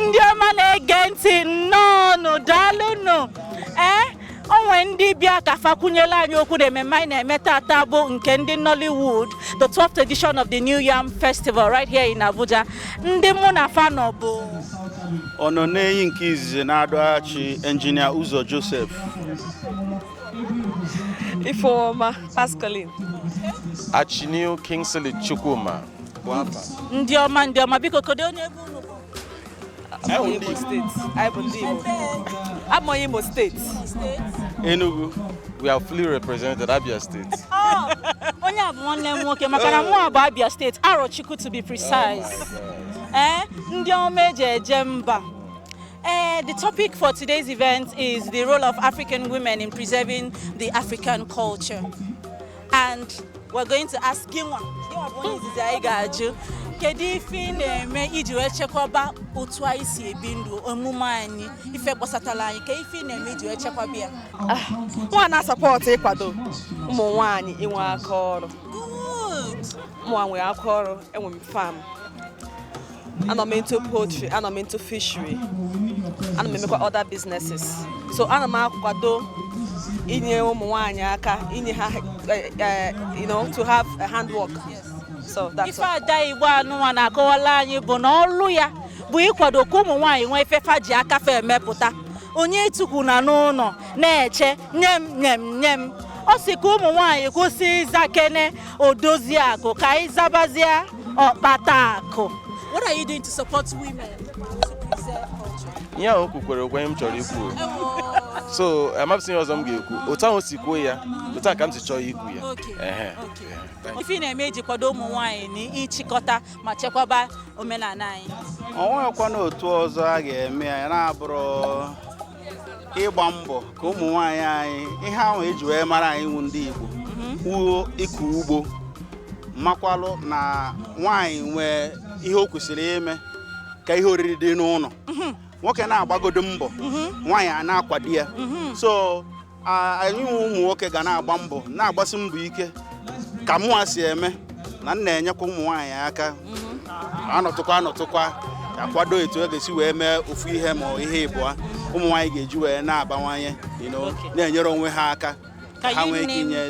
ndị ọma na-ege ntị nnọọnụ daalụnụ ee o nwe ndị bịa ka fa kwunyela anyị okwu na ememme anyị na-eme tata bụ nke ndị Nollywood the 12th edition of the New Yam Festival right here in Abuja ndị mụ na fa nọ bụ Ọnọnenyi nke izizi na Adu Achi Engineer Uzo Joseph Ifeoma Pascaline Achinivu Kingsley Chukwuma ndị ọma ndị ọma biko kedu onye ebe unu bụ abụ ndị igbo abụ onye Imo State Enugu we are fully represented Abia State oh, onye a bụ nwanne m nwoke maka na mụ bụ Abia State Arochukwu to be precise oh Eh, ndị ọma eji eje mba. Uh, the topic for today's event is the role of African women in preserving the African culture. And we're going to ask gịnwa, gịnwa bụ onye izizi anyị ga-ajụ, kedu ife ị na-eme iji wee chekwaba otu anyị si ebi ndụ omume anyị ife gbasatara anyị ka ife ị na-eme iji wee chekwaba ya mụnwa na-asupport ịkwado ụmụ nwaanyị inwe aka ọrụ Good. mụnwa nwere aka ọrụ enwe m farm anọ m into poultry anọ m into fishery ana m emekwa other businesses so ana m akwado inye ụmụ nwaanyị aka inye ha eh, eh, you know to have a handwork so that's ife ada igbo anụnwa na-akọwala anyị bụ na ọlụ ya bụ ịkwado ka ụmụ nwaanyị nwee ife fa ji aka fa emepụta onye etukwuna n'ụlọ na-eche nye m nye m nye m ọ sị ka ụmụ nwaanyị kwụsị ịza kene Odoziakụ ka anyị zabazie ọkpata akụ What are you doing to support women to preserve culture? ihe ahụ o kwukwara okwu ihe m chọrọ ikwu so amahụzị ihe ọzọ m ga-ekwu otu ahụ o si kwuo ya otu a ka m si chọọ ikwu ya Okay, Ehe. okay. Thank you. Ife ị na-eme iji kwado ụmụ nwaanyị na ịchịkọta ma chekwaba omenala anyị. o nweghịkwanụ otu ọzọ a ga-eme ya na-abụrọ ịgba mbọ ka ụmụ nwaanyị anyị ihe ahụ eji wee mara anyị wụ ndị Igbo wụ mhm. ịkọ ugbo makwalụ na nwaanyị nwee ihe o kwesịrị ime ka ihe oriri dị n'ụlọ mhm. nwoke na-agbagodo mbọ mhm. nwaanyị ana-akwado ya so anyị wụ ụmụ nwoke ga na-agba mbọ na-agbasi mbọ ike ka mụwa si eme na m na-enyekwa ụmụ nwaanyị aka anọtụkwa anọtụkwa akwado etu e ga-esi wee mee ofu ihe ma ihe ịbụa ụmụ nwaanyị ga-eji wee na-abawanye na-enyere onwe ha aka ha nwee ike inye